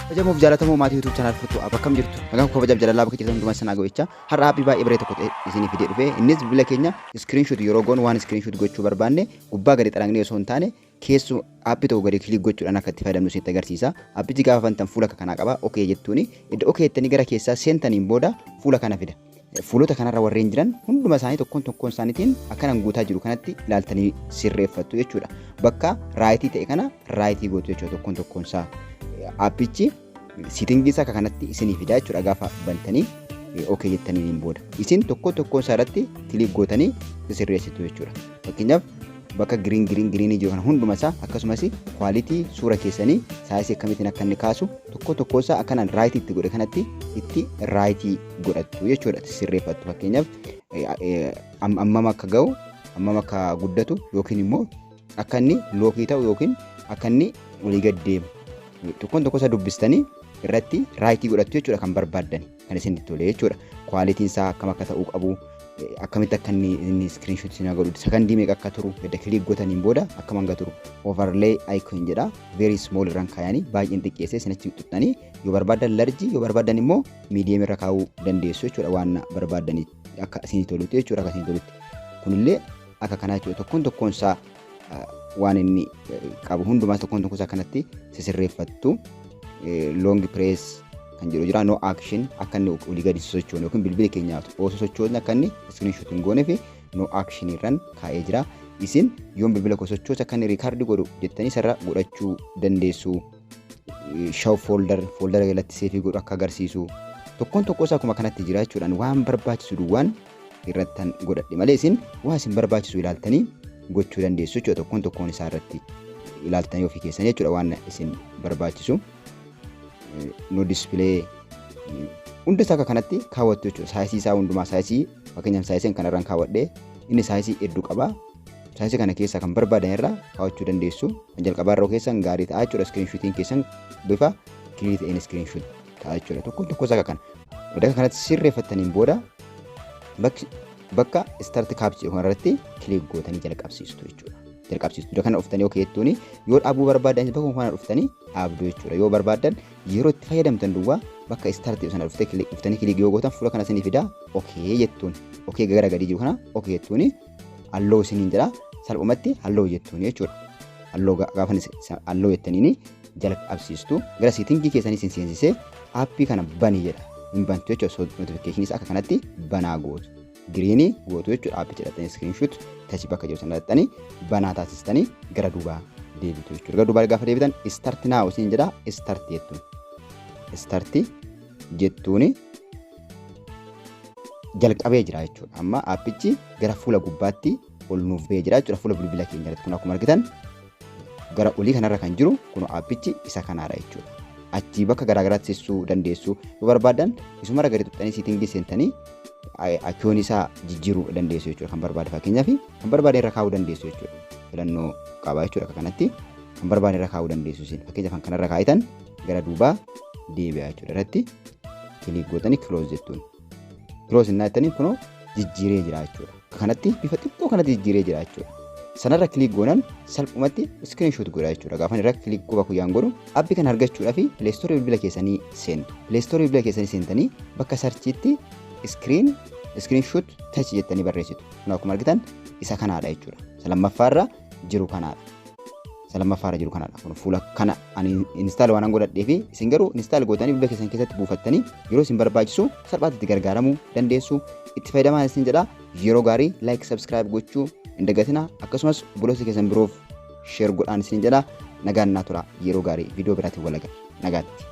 Kabajamuuf jaalatamoo maatii YouTube channel furtuu app akkam jirtu? Nagaan koo kabajaaf jaalalaa bakka jirtan hundumaa isin haa ga'u jechaa har'a aappii baay'ee bareeda tokko ta'e isinii fidee dhufe. Innis bilbila keenya screenshot yeroo goonu waan screenshot gochuu barbaanne gubbaa gadi xaragnee osoo hin taane keessu aappii tokko gadi kilik gochuudhaan akka itti fayyadamnu isinitti agarsiisa. Aappichi gaafa bantan fuula akka kanaa qaba. OK jettuuni. Iddoo OK jettanii gara keessaa seentaniin booda fuula kana fida. Fuulota kanarra warreen jiran hunduma isaanii tokkoon tokkoon isaaniitiin akkanan guutaa jiru kanatti ilaaltanii sirreeffattu jechuudha. Bakka raayitii ta'e kana raayitii gootu jechuudha tokkoon tokkoon isaa. Aappichi siitingii isaa akka kanatti isinii fidaa jechuudha gaafa bantanii ok jettaniin booda. Isin tokkoon tokkoon isaa irratti kiliik gootanii sirreessitu jechuudha. Fakkeenyaaf bakka giriin giriin giriinii jiru kana hunduma isaa akkasumas kwaalitii suura keessanii saayisii akkamittiin akka inni kaasu tokko tokko isaa akkanaan raayitii itti godhe kanatti itti raayitii godhattu jechuudha sirreeffattu fakkeenyaaf ammam akka ga'u ammam akka guddatu yookiin immoo akka inni lookii ta'u yookiin akka inni olii gad deemu tokkoon tokko isaa dubbistanii irratti raayitii godhattu jechuudha kan barbaaddan kan isin tole jechuudha kwaalitiin isaa akkam akka ta'uu qabu akkamitti akka inni inni iskiriinshoot isin godhu sakandii meeqa akka turu edda kiliik gotaniin booda akkam hanga turu overlay icon jedha very small irraan kaayanii baay'een xiqqeessee isinitti xuxxanii yoo barbaadan larjii yoo barbaadan immoo miidiyeem irra kaa'uu dandeessu jechuudha waan barbaadaniif akka isin tolutti jechuudha akka isin tolutti kunillee akka kanaa jechuudha tokkoon tokkoon isaa waan inni qabu hundumaa tokkoon tokkoon isaa kanatti sisirreeffattu loongi pirees kan jedhu jira no action akka inni olii gadi sochoonu yookiin bilbila keenyaa osoo sochoonu akka inni iskiriinshoot hin goone fi no action irraan kaa'ee jira isin yoon bilbila koo sochoosa akka inni riikaardi godhu jettanii sarara godhachuu dandeessu. show folder folder jalatti seefii godhu akka agarsiisu tokkoon tokkoo isaa akkuma kanatti jira jechuudhaan waan barbaachisu duwwaan irrattan godhadhe malee isin waan isin barbaachisu ilaaltanii gochuu dandeessu jechuudha tokkoon tokkoon isaa irratti ilaaltanii ofii keessan jechuudha waan isin barbaachisu no display hunda isaa akka kanatti kaawwattu jechuudha saayisii isaa hundumaa saayisii fakkeenyaaf saayisiin kanarraan kaawwadhe inni saayisii hedduu qaba Saayinsa kana keessaa kan barbaadan irraa kaawachuu dandeessu. Kan jalqabaa irra keessan gaarii ta'a jechuudha. Iskiriinshuutiin keessan bifa kiliirii ta'een iskiriinshuut ta'a jechuudha. Tokko tokko isaa kan. Bakka kanatti sirreeffattaniin booda bakka istaarti kaapchii kanarratti kiliik gootanii jalqabsiistu jechuudha. Jalqabsiistu iddoo kana dhuftanii yookiin jettuuni yoo dhaabuu barbaadan bakka kana dhuftanii dhaabdu jechuudha. Yoo barbaadan yeroo itti fayyadamtan duwwaa bakka istaarti sana dhuftanii kiliik yoo gootan fuula kana isinii fidaa okee jettuun okee gara gadii jiru kana okee jettuuni halloo isiniin jedha salphumatti halloo jettuun jechuudha. Halloo gaafa halloo jettaniin jala qabsiistu gara seetingii keessanii isin seensisee aappii kana bani jedha hin bantu jechuudha notifikashinis akka kanatti banaa gootu. Giriinii gootu jechuudha aappii jedhatanii iskiriinshuut tachi bakka jiru sana dhaxxanii banaa taasistanii gara duubaa deebitu jechuudha. Gara duubaa gaafa deebitan istarti naawu isin jedha istarti jettuun. Istarti jettuuni jalqabee jira jechuudha. Amma aappichi gara fuula gubbaatti ol nuuf ba'ee jira jechuudha. Fuula bilbila keenya irratti kun akkuma argitan gara olii kanarra kan jiru kun aappichi isa kanaadha jechuudha. Achii bakka garaagaraatti sissuu dandeessu yoo barbaadan isuma gadi tuqxanii siitingii seentanii akkiyoon isaa jijjiiruu dandeessu jechuudha kan barbaade fakkeenyaaf kan barbaade irra kaa'uu dandeessu jechuudha. Filannoo qaba jechuudha akka kanatti kan barbaade irra kaa'uu dandeessu isin fakkeenyaaf kan kanarra kaa'itan gara duubaa deebi'a jechuudha irratti kiliik gootanii kiloos jettuun kiloos innaa jettanii kunoo jijjiiree jira jechuudha kanatti bifa xiqqoo kanatti jijjiiree jira jechuudha sanarra kiliik goonan salphumatti iskiriinshoot godha jechuudha gaafan irra kiliik qofa kuyyaan godhu appi kan argachuudhaa fi pileestoorii bilbila keessanii seentu pileestoorii bilbila keessanii seentanii bakka sarchiitti iskiriin iskiriinshoot tachi jettanii barreessitu kun akkuma argitan isa kanaadha jechuudha isa lammaffaarra jiru kanaadha. Isa lammaffaa irra jiru kanaadha. Kun fuula kana ani instaal waan godhadhee fi isin garuu instaal gootanii bilbila keessan keessatti buufattanii yeroo isin barbaachisu salphaatti itti gargaaramuu dandeessu. Itti fayyadamaa isin jedha yeroo gaarii like subscribe gochuu hin dagatina akkasumas obboloota keessan biroof share godhaan isin jedha nagaan naa tura yeroo gaarii viidiyoo biraatiin walaga nagaatti.